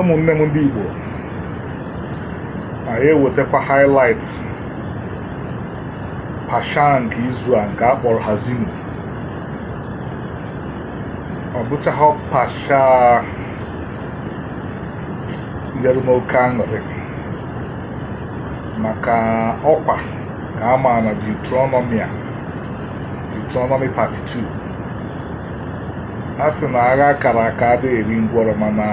ụmụnne m ndị Igbo anyị ewetakwa highlight parsha nke izu a nke a kpọrọ Haazinu ọ bụchaghị parsha nyere m oke aṅụrị maka ọkwa ka a ma na Deuteronomy a Deuteronomy 32 a sị na agha kara aka adịghị eri ngwọrọ mana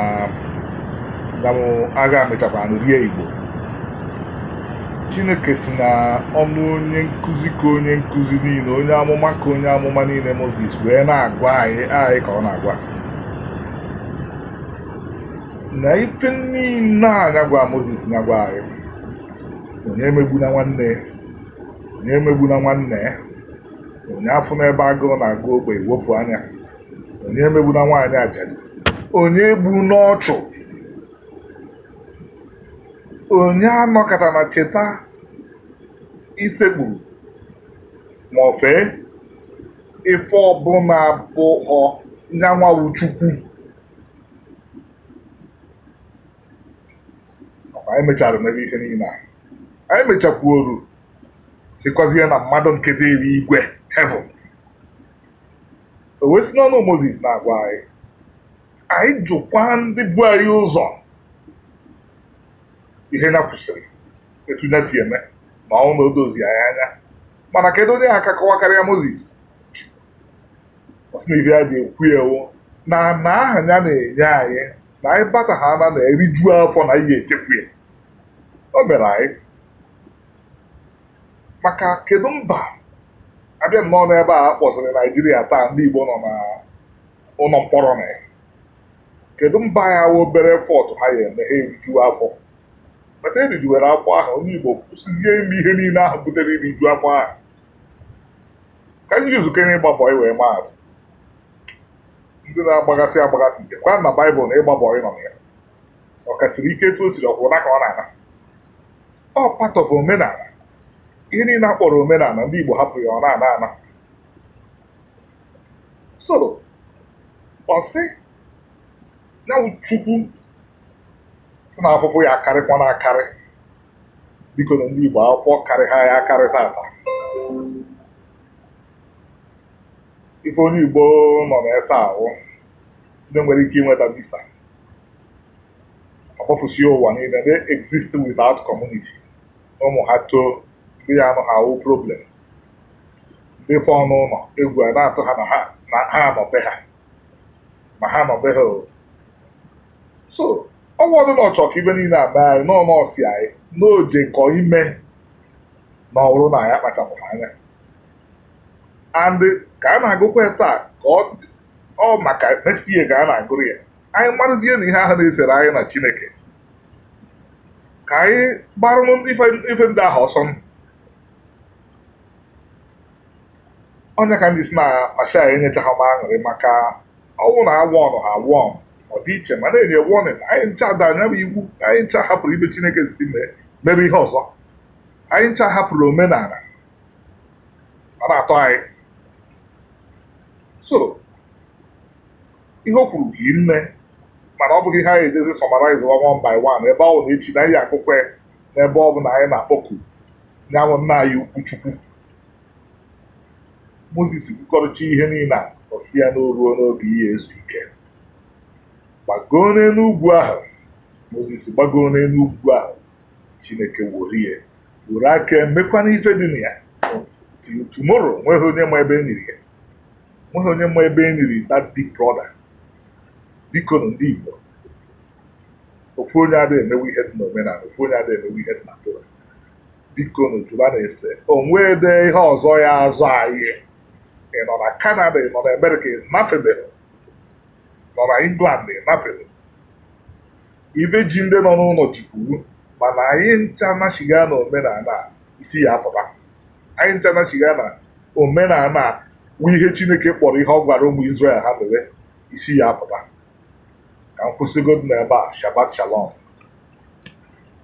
agha mechakwa rie igbo chineke si na ọnụ onye nkụzi ka onye nkụzi niile onye amụma ka onye amụma niile moses wee na-agwa anyị anyị ka ọ na-agwa na ife niile a ya gwa moses na-agwa anyị onye emegbuna nwanne onye emegbuna nwanne ya onye afụna ebe agụụ na-agụ ogbenye wepụ anya onye emegbuna nwaanyị ajadu onye egbuna ọchụ onye anọkatana cheta isekpuru ma ọ fee ife ọbụla abụhọ nya nwa wụ chukwu anyị mechara mebe ihe niile a anyị mechakwuoru sịkwazie na mmadụ nkịtị iri igwe heaven o wee si n'ọnụ moses na-agwa anyị anyị jụkwa ndị bu anyị ụzọ ihe ya kwusiri etu ya si eme ma ọ wụ na o dozi anyị anya mana kedu onye ga-aka akọwa karịa moses ọ sị na ife ya ji ekwu a wụ na na ala ya na-enye anyị na anyị bata ha na na-eriju afọ na anyị ya-echefu ihe o mere anyị maka kedu mba a bịa nnọọ n'ebe a kpọzịrị naijiria taa ndị igbo nọ na ụlọ mkpọrọ na ya kedu mba ya wụ obere effort ha ya-eme ha eriju afọ ma taa e rijuwere afọ ahụ onye igbo kwụsịzie ime ihe niile ahụ butere iriju afọ ahụ ka anyị jizikene ịgba bọị wee maa atụ ndị na-agbaghasị agbaghasị jekwa na baịbụl na ịgba bọị nọ na ya ọ ka siri ike etu o siri ọkwa ụna ka ọ na-ana ọ part of omenala ihe niile a kpọrọ omenala ndị Igbo hapụ ya ọ na-ana ana so ọ sị ya wụ Chukwu si na afụfụ ya-akarịkwanụ akarị biko na ndị Igbo afụfụ akarị ha ya akarị taata ife onye Igbo nọ na-ata ahụ ndị nwere ike inweta visa agbafusie ụwa niile they exist without community ụmụ ha too ndị ya-anụ ha awụ problem ndị fọ n'ụlọ egwu ana-atụ ha na ha na ha anọbe ha ma ha anọbe ha o so ọnwa ọdụ na ọchọ ka ife niile a mee anyị Moses sị anyị na o jekọ ime na ọ wụrụ na anyị akpachapụghị anya and ka a na-agụkwa ya taa ka ọ dị- ọ maka next year ka a na-agụrụ ya anyị marụzie na ihe ahụ na-esere anyị na chineke ka anyị gbarụnụ ife ndị ahụ ọsọ onye ka ndị si na asha enyechaghị m aṅụrị maka ọ wụ na agwọ ọnụ ha agwọ ọnụ ọ dị iche mana e nye warning anyị ncha daa nya bụ iwu anyị ncha hapụrụ ife chineke si mee mebe ihe ọzọ anyị ncha hapụrụ omenala ọ na-atọ anyị so ihe o kwuru hii nne mana ọ bụghị ihe anyị ejezi summarize one by one ebe ọ na echi na anyị agụkọ ya n'ebe ọ bụla anyị na-akpọku nya wụ nna anyị ukwu chukwu moses kwukọrịcha ihe niile a ọ sị ya na o ruona oge ije ezu ike gbagoo n'elu ugwu ahụ moses gbagoo n'elu ugwu ahụ chineke worie were aka mekwana ife dị na ya tomorrow nweghị onye ma ebe e niri ya nweghị onye ma ebe e niri that big brother bikonụ ndị Igbo ofu onye adịghị emewe ihe dị n'omenala ofu onye adịghị emewe ihe dị na Torah bikonụ jụbanụ ese o nwede ihe ọzọ ya-azọ anyị ị nọ na Canada ị nọ na Amerịka ị nafebeghị nọ na England ị nafebeghị ife ji ndị nọ n'ụlọ jikwuru mana anyị ncha nachigha na omenala isi ya apụta anyị ncha nachigha na omenala bụ ihe chineke kpọrọ ihe ọ gwara ụmụ Izrel ha mere isi ya apụta ka m kwụsịgodu n'ebe a shabat shalom